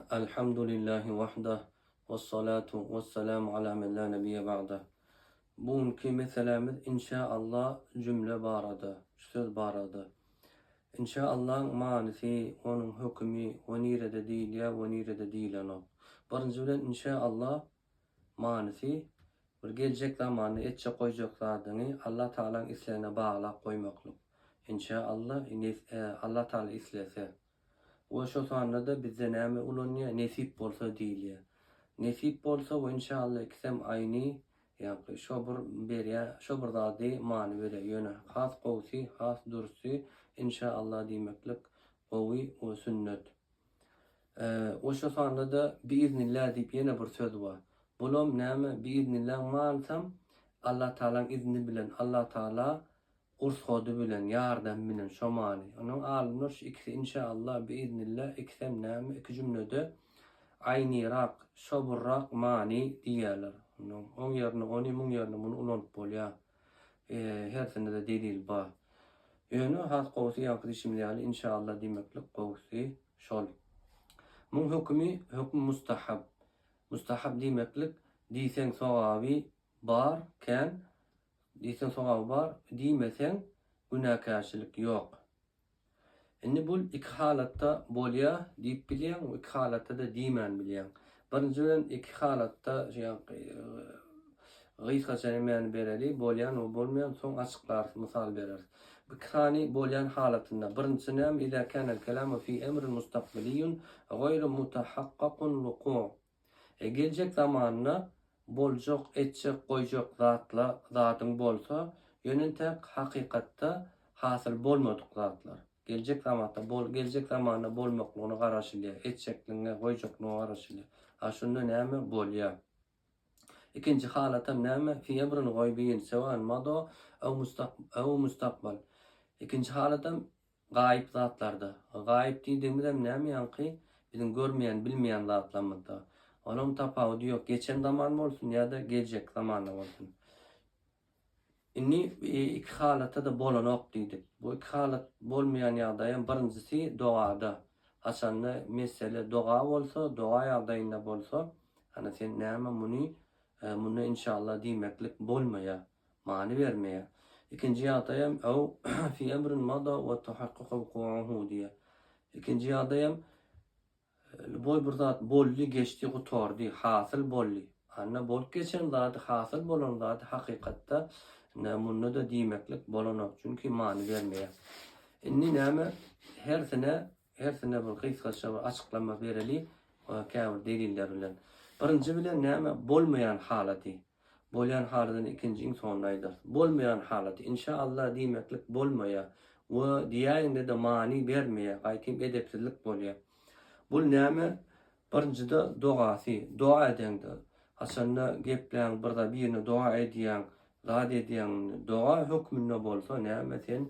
Alhamdulillahi wahdah, wassalatu wassalamu ala men la nebiyye ba'dah. Bu günki meselämiz inşa Allah jümle barada, şu söz barada. Inşa Allahyň manysy, onuň hökümi we nirede diýilýär we nirede diýilenok. Birinji bilen inşa Allah manysy bir geljek zamanda etjek goýjak zadyňy Allah Tagalaň islegine baglap goýmaklyk. Inşa Allah, Alla Taala islese. We şo sanda-da bizde näme ulanýar, nesip bolsa diýilýär. Nesip bolsa we inşalla ikisem aýny, ýagny şo bir berýär, şo bir zady many berýär. Ýöne has gowusy, has durusy inşalla diýmeklik gowy we sünnet. We şo sanda-da biiznillah diýip ýene bir söz bar. Bulam näme, biiznillah manysam Allatagalaň izni bilen, Allatagala Gurs hody bilen ýardam bilen şo many. Onuň alymlar şu ikisi inşa Allah bi iznillah ikisem näme iki jümlede aýnyrak şoburrak many diýýäler. Onuň oň ýerine ony muň ýerine muny ulanyp bolýa. Hersindede delil ba. Ýöne has gowusy ýaňky diýşimiz ýaly inşa Allah diýmeklik gowusy şol. Muň hökümi hökm mustahab. Mustahab diýmeklik diýseň sogaby bar kän Diýseň sogaby bar, diýmeseň günäkärçilik ýok. Indi bul iki halatda bolýa diýip bilýäň, iki halatda-da diýmän bilýäň. Birinji bilen iki halatda gysgaça nämäni bereli, bolýan we bolmaýan soň açyklarys, mysal bereris. Iki sany bolýan halatynda, birinjisi näme, iza kanel kelamu fi emrin mustakbeliyyun gaýru mutahakkakun wuku. E geljek zamanda boljak, etjek, goýjak zatla zadyň bolsa, ýöne entäk hakykatda hasyl bolmadyk zatlar. Geljek zamatda bol, geljek zamanda bolmaklygyna garaşylýar, etjekligiňe, goýjaklygyňa garaşylýar. A şunda näme bolýar? Ikinji halatam näme? Fi emrin goýbiýin, sewan, mado, ew mustak, ew mustakbal. Ikinji halatam Gaýyp zatlarda. Gaýyp diýdigimizem näme ýaňky biziň görmeýän, bilmeýän zatlarymyzda. Olaň tapawudy ýok, geçen zaman bolsun ýa-da geljekki zamanda bolsun. Indi iki halatda-da bolanok diýdik. Bu iki halat bolmaýan ýagdaýam birinjisi dogada. Haçanda mesele doga bolsa, doga ýagdaýynda bolsa, hany sen näme muny, munda inşallah diýmeklik bolmaýar. many bermeýär. Ikinji ýagdaýam ew fi emrin mada we tahakkaka wuku'uhu diýýär. Ikinji ýagdaýam lýuboý bir zat boldy, geçdi, gutardy, hasyl boldy. Anna bolup geçen zady, hasyl bolan zady hakykatda ine munda-da diýmeklik bolanok, çünki many bermeýär. Indi näme, hersine, hersine bir gysgaça bir açyklama bereli, käbir deliller bilen. Birinji bilen näme, bolmaýan halaty. Bolýan halydan ikinji iň soňunda aýdarys. Bolmaýan halaty Inşa Allah diýmeklik bolmaýar we diýäýiňde-de many bermeýär, gaýtam edepsizlik bolýar. Bul näme? Birinjide dogasy, doga edeňde, haçanda gepläň bir zat birine doga edýäň, zat edýäň, doga hökmünde bolsa näme sen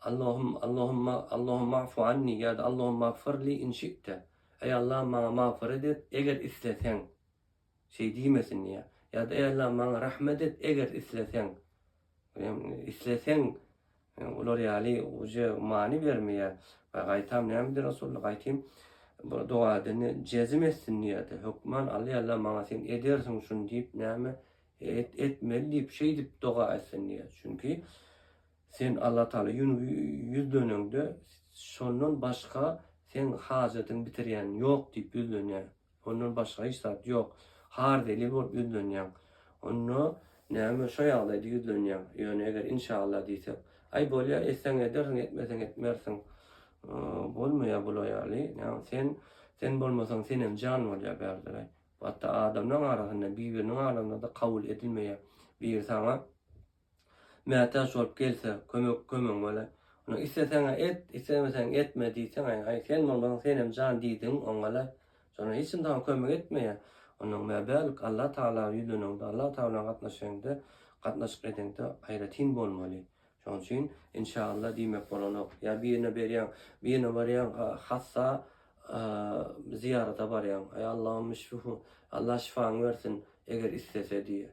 Allahum Allahumma Allahumma afu anni ýa-da Allahumma agfir li in şi'te. Eý Allahym maňa magfyrat et eger isleseň. Şeý diýmesin diýýär. Ýa-da eý Allahym maňa rahmet et eger isleseň. Isleseň olar ýaly uje many bermeýär. Ýa gaýtam näme diýdi Resulullah gaýtym bu doga edeni jezm etsin diýýärdi. Hökman Alla eý Allahym maňa sen edersiň şuny diýip näme et etmeli diýip şeýdip doga etsin diýýär. Çünki Sen Alla Taala ýun ýüz döneňde şondan başga seň hajatyň bitirýän ýok diýip ýüz dönýär. Ondan başga hiç zat ýok. Har zelil bolup ýüz dönýäň. Onda näme şo ýagdaýda ýüz dönýäň. Ýöne eger inşalla diýsek. Aý bolýa etseň edersiň etmeseň etmersiň. Bolmaýa bula ýaly. Näme sen sen bolmasaň senem jan bolýa bärderäý. Hatda adamlaň arasynda bir biriniň arasyndada kabul edilmeýä. Biri saňa. mätäç bolup gelse, kömek kömegiň bolar. Onda isleseň-ä et, islemeseň etme diýseň-ä, aý, sen bolmasaň senem jan diýdigiň oňalar. Şonda hiç kim saňa kömek etmeýär. Onnoň mä bärik Allatagala ýüzleneňde, Allatagala bilen gatnaşaňda, gatnaşyk edeňde aýratyn bolmaly. Şonuň üçin Inşaalla diýmek bolanok. Ýa birine berýäň, birine barýaň, hassa zyýarata barýaň. Aý, Allahumma şfihu, Allah şyfaňy bersin, eger islese diýýär.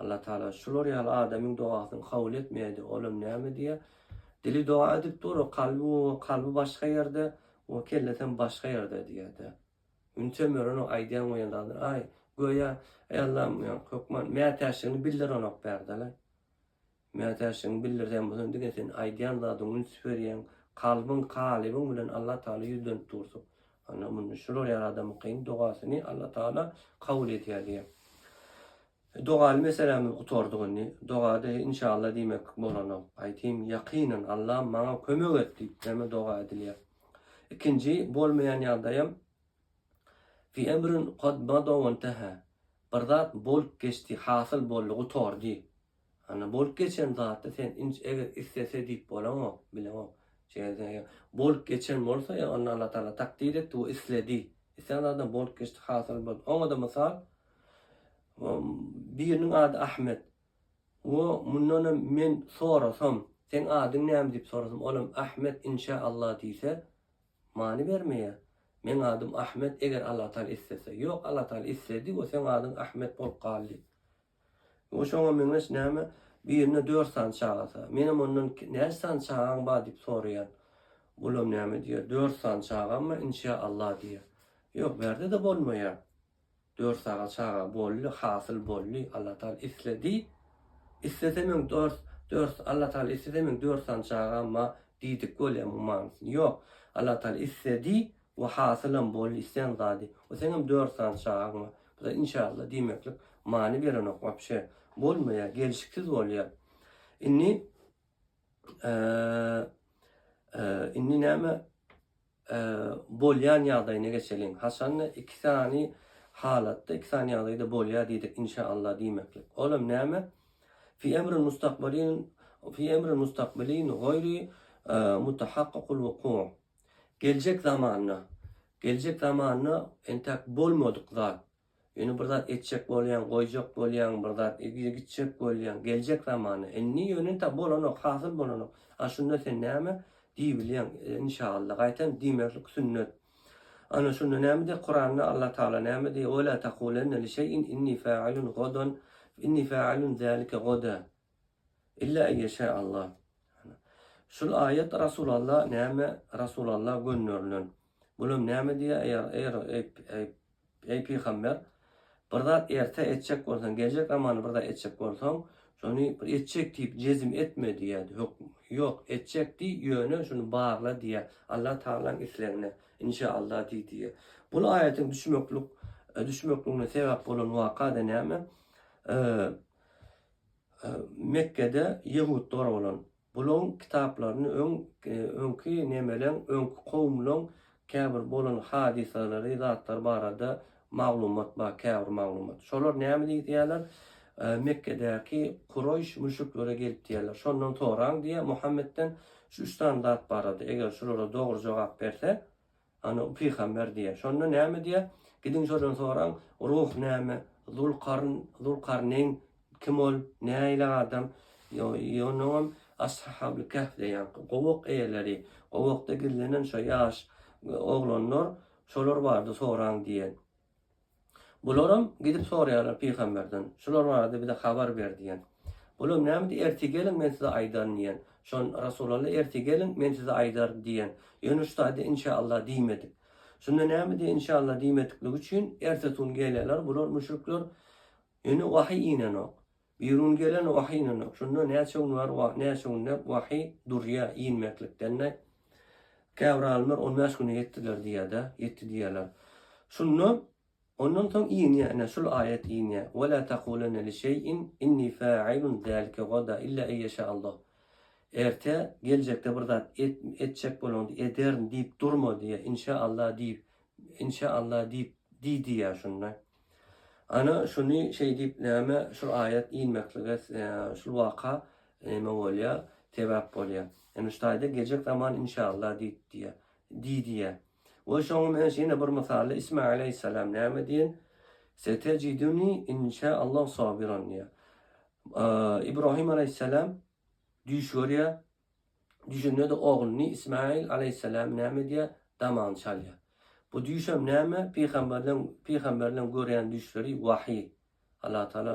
Alla Taala şular ýaly adamyň dogasyny kabul etmeýärdi, olam näme diýä? Dili doga edip dur, o kalby o kalby başga ýerde, o kellesem başga ýerde diýädä. Ünçe Mören o aýdýan goýan zadyny aý, göýä, eý Allam, hökman mätäçligini bildirenok bärde-le. Mätäçligiňi bildirýän bolsaň diňe sen aýdýan zadyň üns berýän kalbyň kalybyň bilen Allah Taala ýüzlenip dursuň. Ana munde şular ýaly adamyňkyň dogasyny Allah Taala kabul edýär diýýär. Dogaly meselämiz gutardyk indi. Dogada inşallah diýmek bolanok. Aýtym ýakynyn Allam maňa kömek et diýip näme doga edilýär. Ikinji bolmaýan ýagdaýam fi emrin kad mada wenteha. Bir zat bolup geçdi, hasyl boldy, gutardy. Ana bolup geçen zaty sen inç eger istese diýip bolaňok, bileňok. Şeýle sen eger bolup geçen bolsa ýa onda Allah Taala takdyr etdi we isledi. Islän zadam bolup geçdi, hasyl boldy. Oňada mysal biriniň ady Ahmet we mundan hem men sorasam, seň adyň näme diýip sorasam, olam Ahmet inşa Allah diýse, many bermeýär. Meň adym Ahmet eger Allah Taala islese. Ýok Allah Taala isledi we seň adyň Ahmet bolup galdy. Ol şoňa meňzeş näme, birinde dört sany çagasa. Menem ondan näçe sany çagaň bar diýip soraýan. Olam näme diýýär, dört sany çagammy, inşa Allah diýýär. Ýok, bärde-de bolmaýar. Dört sany çaga boldy, hasyl boldy, Allah Taala isledi. Islese meň dört, dört, Allah Taala islese meň dört sany çagam bar diýdik bolýar muň manysyny. Ýok, Allah Taala isledi, We hasylam bol isleýän zady. We seňem dört sany çagaň bar. Buda inşallah diýmeklik many berenok wapşe. Bolmaýar, gelşiksiz bolýar. Indi indi näme bolýan ýagdaýyna geçeliň. Haçanda iki sany halatda, iki sany ýagdaýda bolýar diýdik inşallah diýmeklik. Olam näme? Fi emrin mustakbalin fi emrin mustakbalin goýri mutahakkykul wuku. Geljek zamanda, geljek zamanda entäk bolmadyk zat. Ýöne bir zat etjek bolýaň, goýjak bolýaň, bir zat gitjek bolýaň, geljek zamanda. Indi ýöne entäk bolanok, hasyl bolanok. A şunda sen näme diýibilýäň? Inşaalla, gaýtam diýmezlik sünnet. Ana şunda näme diýýär? Kuranda Allah Tagala näme diýýär? Wela takulenne li şeýin inni failun godan, inni failun zalike goda. Illa eýeşä Allah. Şul aýat Rasul Allah näme Rasul Allah gönderilen. Bulam näme diýýä eýer eýer eý eý pygamber bir zat erte etjek bolsaň geljek zamany bir zat etjek bolsaň şony bir etjek diýip jezim etme diýýädi hökm ýok etjek diý ýöne şuny barla diýýä Allah Taalaň islegine inşa Allah diý diýýä bu aýatyň düşmeklik düşmekligine sebäp bolan waka da näme Mekgede ýehudlar bolan. Bulaň kitaplaryny öň öňki nemeleň öňki kowumlaň käbir bolan hadysalary zatlar barada maglumat bar käbir maglumat. Şolar näme diýýärler Mekgedäki Kureýş müşriklere gelip diýýärler şondan soraň diýýär Muhammetden şu üç sany zat barada eger şulara dogry jogap berse Ana, bu pygamber diýýär. Şonda näme diýýär? Gidiň şodan soraň, ruh näme? Zul-Karn, Zul-Karneýn kim ol? Nähili adam? Ýo-ýonuňam Ashabyl Kehf diýýän gowak eýeleri, gowakda gizlenen şo ýaş oglanlar, şolar bardy soraň diýýär. Bularam gidip soraýarlar pygamberden, Şular barada bize habar ber diýen. Bulam nämedi, Ertir geliň, men size aýdaryn diýen. Şon, Resulalla, Ertir geliň, men size aýdaryn diýen. Ýöne şu taýda Inşaallah diýmedik. Şunda nämedi, Inşaallah diýmedikligi üçin ertesi gün gelýärler, bular, müşrikler, ýöne wahyý inenok. Birun gelen wahy ynanyň. Şonda näçe gün bar we näçe günde wahy durýa inmeklikden-de. Käbir alymlar on bäş güne ýetdiler diýýär-de, ýetdi diýýärler. Şonda ondan soň inýär, ine, şul aýat inýär, Ve la takulenne li şeyin inni failun zalike gada illa en ýeşa Allah. Erte, geljekde bir zat et, etjek bolanda ederin diýip durma diýýär, inşa Allah diýip, inşa Allah diýip diý diýýär şonda. Ana, şuny şeý diýip, näme, şul aýat inmeklige şul waka näme bolýar, sebäp bolýar. Ýöne şu taýda geljek zaman inşallah diýip diýýär. Diý diýýär. We şoňam öňs ýene bir mysally Isma aleýhissalam näme diýen? Setejiduni inşaallah sabiran diýýär. Ibrahim aleýhissalam düýş görýär, Düýşünde-de ogluny Ismaýyl alaýhyssalam näme edýär? Damagyny çalýar. Bu düýşem näme? Pygamberleň pygamberleň görýän düýşleri wahyý. Allah Taala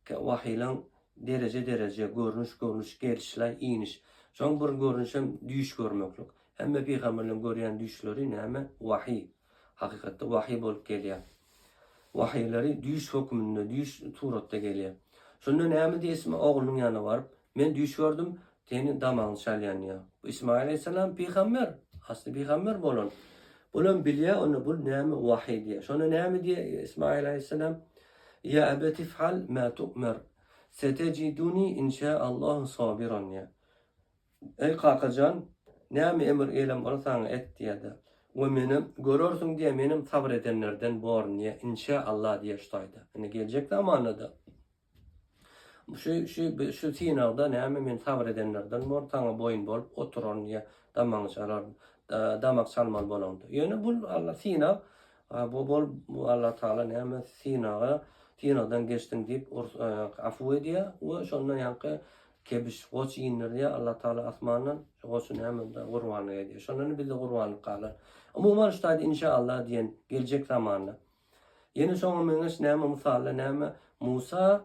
wahyýlaň dereje-dereje, görnüş-görnüş, gelişlaý, iniş. Şoň bir görnüşem düýş görmeklik. Hemme pygamberleň görýän düýşleri näme? Wahyý. Hakykatda wahyý bolup gelýär. Wahyýlary düýş hökmünde, düýş suratda gelýär. Şonda näme diýdi Isma oglunyň ýanyna baryp? Men düýş gördüm, seniň damagyň çal ýanýar. Bu Ysmaýyl aleýhissalam pygamber, asly pygamber bolan. Bulam bilýär, onda bul näme wahyý diýýär. Şonda näme diýýär Ysmaýyl aleýhissalam? Ýa ebet if'al ma tu'mer, setejiduni inşa Allahu sabiran diýýär. Eý kaka jan, näme emr eýlän bolsaň et diýýär-de, we meni görersiň diýýär, menem sabyr edenlerden borun diýýär, inşa Allah diýýär şu taýda. Indi geljek zamanda-da. Şu şu şu synagda näme men sabyr edenlerden bor, saňa boýun bolup oturan ýa damagyňy çalar, damak çalmaly bolaňda. Ýöne bu Alla synag, bu bol bu Alla Taala näme synaga, synagdan geçdiň diýip afu edýär we şonda ýaňky kebiş goç indirýär Alla Taala asmandan, şu goçy näme onda gurbanlyk edýär. Şonda indi bizde gurbanlyk galar. Umuman şu taýda inşa Allah diýen geljek zamanda Ýene şoňa meňzeş näme mysalla näme Musa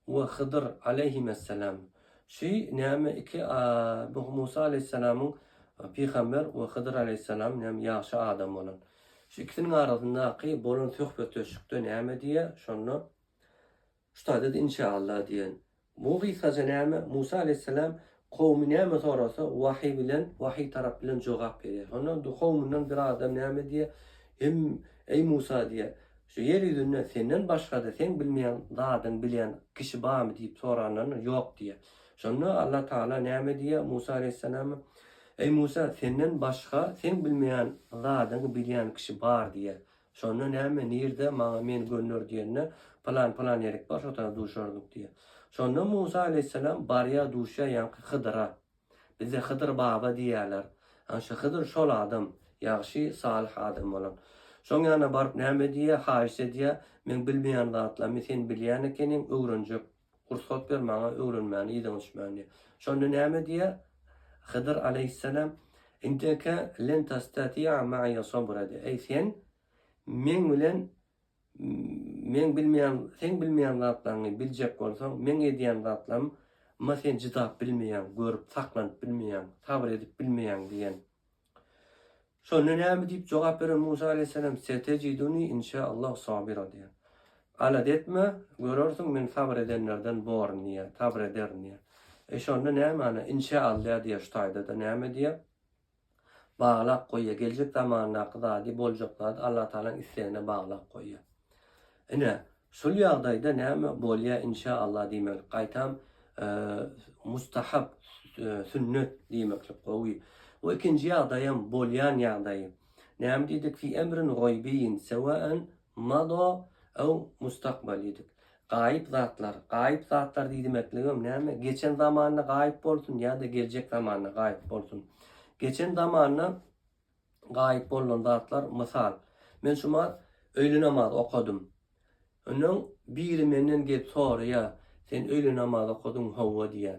we Hydyr aleýhimessalam şü näme iki bu Musa aleýhissalamyň pygamber we Hydyr aleýhissalam näme ýagşy adam bolan şu ikisiniň arasyndaky bolan söhbetdeşlikde näme diýýär şonda Ustadyz inşaallah diýen bu gysgaça näme? Musa aleýhisselam kowumy näme sorasa wahyý bilen, wahyý tarap bilen jogap berýär. Şonda indi kowumyndan bir adam näme diýer? Hem eý Musa diýer, şu ýer ýüzünde senden başgada seň bilmeýän zadyň bilýän kişi barmy diýip soranlarynda ýok diýer. Şonda Allah tagala näme diýer Musa aleýhisselama? Eý Musa senden başga seň bilmeýän zadyňy bilýän kişi bar diýer. Şonda näme, nirde, maňa men gönder diýende, pylan-pylan ýerik bar, şo tarap duşardyk diýýär. Şonda Musa aleýhissalam barýar, duşýar ýaňky Hydyra. Bizde Hydyr baba diýýärler. Ana şu Hydyr şol adam, ýagşy, salyh adam bolan. Şoň ýanyna baryp näme diýýär, haýyş edýär, Meň bilmeýän zatlarymy sen bilýän ekeniň, öwrenjek Rugsat ber maňa öwrenmäni yzyňa düşmäni. Şonda näme diýýär? Hydyr aleýhissalam, Indeke len tastati'a ma'iýe sabra de, eý sen meň bilen meň bilmeýän seň bilmeýän zatlaryňy biljek bolsaň, meň edýän zatlarym ma sen cydap bilmeýäň, görüp saklanyp bilmeýäň, sabr edip bilmeýäň diýen. Şonda näme diýip jogap beren Musa aleýhissalam, Setejiduny inşa Allah sabira diýýär. Alada etme, görersiň men sabyr edenlerden boryn diýýär, sabyr ederin diýýär. E şonda nämäni inşa Alla diýýär şu taýda-da näme diýýär? Baglap goýýar, geljek zamandaky zady, boljak zady Allatagalaň islegine baglap goýýar. Ine, şul ýagdaýda näme bolýa inşa Allah diýmeklik gaýtam mustahab, sünnet diýmeklik gowy. Bu ikinji ýagdaýam bolýan ýagdaýy. Näme diýdik fi emrin goýbiýin sewaen mada ew mustakbal diýdik. Gaýyp zatlar, gaýyp zatlar diýdimekligem näme geçen zamanda gaýyp bolsun ýa-da geljek zamanda gaýyp bolsun. Geçen zamanda gaýyp bolnan zatlar mysal men şumat öýli namaz okadym öňňen biri menden gelip soraýa sen öýli namaz okadyň howwa diýä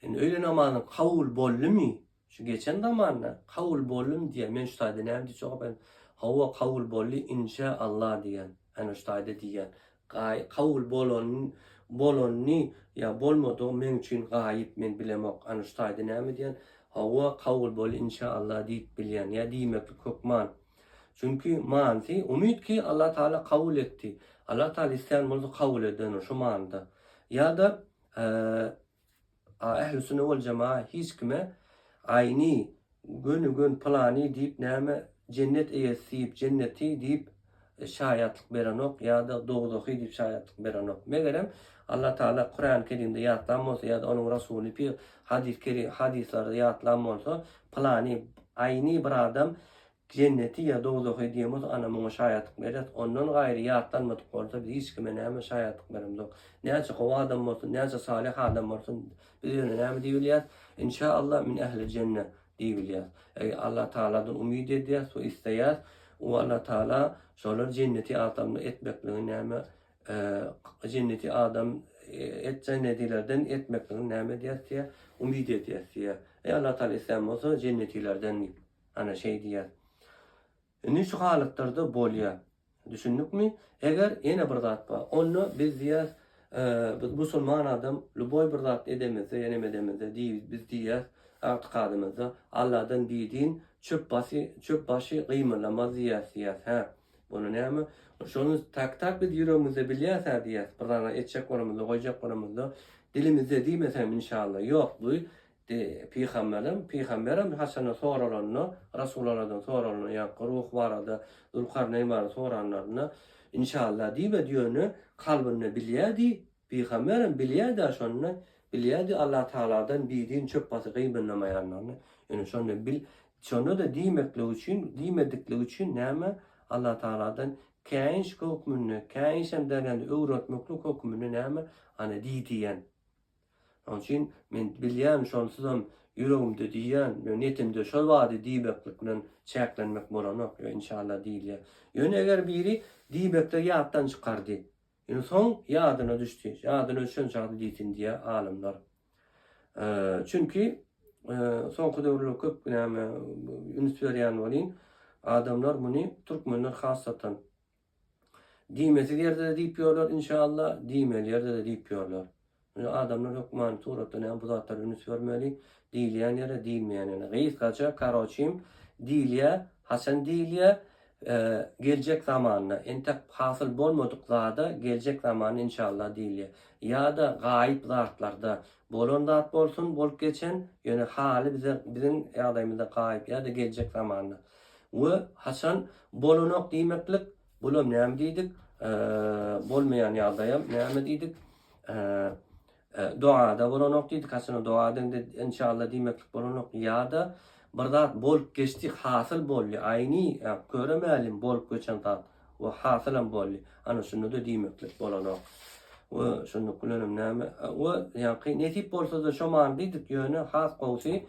indi öýli namazyň kabul boldymy şu geçen zamanda kabul boldym diýä men şu taýda näme diýjek okaýan howwa kabul boldy inşa Allah diýen ene şu taýda diýen Gaý, kabul bolanyny, bolanyny ýa bolmadygy meň üçin gaýyp, men bilemok. Anyş taýda näme diýýän? Hawa, kabul bol, inşa Allah diýip bilýän. Ýa diýmeklik hökman. Çünki, manysy, umyt ki, Allah Taala kabul etdi. Allah Taala islän bolsa kabul eder, şo manyda. Ýa-da, A ählüsünne wal jemaat hiç kime aýni göni gön pylany diýip näme jennet eýesi diýip jenneti diýip şaýatlyk berenok ýada dowzahy diýip şaýatlyk berenok megerem Allah taala kuran kerimde ýatlan bolsa ýada onuň rasuly pi hadys kerim hadyslarda ýatlan bolsa pylany aýni bir adam Jenneti ýa dowzahy diýen bolsa ana muňa şaýatlyk berýäs, ondan gaýry ýatlanmadyk bolsa biz hiç kime näme şaýatlyk beremzok. Näçe gowy adam bolsun, näçe salyh adam bolsun biz ýöne näme diýip bilýäs, in şa Allah min ehli jenne diýip bilýäs. Eger Allah Tagaladan umyt edýäs we isleýäs we Allah Tagala şolar jenneti adamly etmekligini näme jenneti adam et jennetilerden etmekligini näme edýäs diýýär, umyt edýäs diýýär. Eger Allah Tagala islän bolsa jennetilerden diýip. Ana şeý diýýär. Indi şu halatlarda bolýar. Düşündikmi? Eger ýene bir zat bar. Onda biz diýýär, biz musulman adam lýuboý bir zat edemizde ýa näme edemizde diýip biz diýýär, ygtykadymyzda Alladan bidin çöp basy, çöp başy gymyldamaz diýýäs diýýär. Hä, onda näme? Şony tak-tak biz ýüregimizde bilýäs-ä diýýär. Bir zada etjek bolamyzda, goýjak bolamyzda dilimizde diýmeseňem inşalla. Ýok, bu Dy. Pygamberem, pygamberem haçanda soralanda, Resulaladan soralanda, ýaňky ruh barada, Zülkarneýn barada soranlarynda, Inşalla diýmedi, ýöne kalbynda bilýärdi, pygamberem bilýärdi-ä şonda, bilýärdi Allatagaladan bidin çöp basy gybynlamaýanlaryny, ýöne şonda bil, şonda-da diýmeklik üçin, diýmediklik üçin näme, Allatagaladan käýinç hökmünde, käýinçem derňendi, öwretmeklik hökmünde näme, ana diýdi ýen. Şonuň üçin men bilýän, şonsuzam ýüregimde diýýän we netimde şol bady diýbeklik bilen çäklenmek bolanok, ýöne inşallah diýilýär. Ýöne eger biri diýbekde ýatdan çykardy, ýöne soň ýadyna düşdi, ýadyna düşen çagda diýsin diýýär alymlar. Çünki soňky döwürler köp näme üns berýän welin, adamlar muny türkmenler hasatan, Diýmesiz ýerde-de diýip ýörler, inşallah, diýmeli ýerde-de diýip ýörler. Ýöne adamlar hökmany suratda näme bu zatlara üns bermeli, diýilýän ýere, diýilmeýän ýere. Gysgaça, karoçim, diýilýär, haçan diýilýär, geljek zamanda, entek hasyl bolmadyk zada geljek zamanda inşallah diýilýär. Ýa-da gaýyp zatlarda, bolan zat bolsun, bolup geçen, ýöne haly bize, biziň ýagdaýymyzda gaýyp ýa-da geljek zamanda. We haçan bolanok diýmeklik, bula näme diýdik? Bolmaýan ýagdaýam näme diýdik? Dogada bolanok diýdik. Haçan doga deňde inşallah diýmeklik bolanok. Ýa-da bir zat bolup geçdi, hasyl boldy. Aýni köre mälim bolup geçen zat we hasylam boldy. Ana şunda-da diýmeklik bolanok. We şunluk bilenem näme? We ýaňky nesip bolsa-da şo many diýdik. Ýöne has gowusy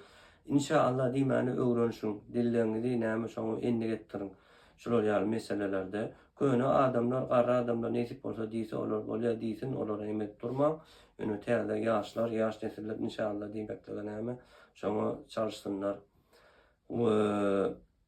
Inşa Allah diýmäni öwrenişiň, dilleňizi näme şoňa endik etdiriň. Şular ýaly meselelerde köne adamlar garry adamlar nesip bolsa diýse olar bolýa diýsin olara emek durmaň. Ýöne täze ýaşlar ýaş nesiller inşa Allah diýmeklige näme şoňa çalyşsynlar. We.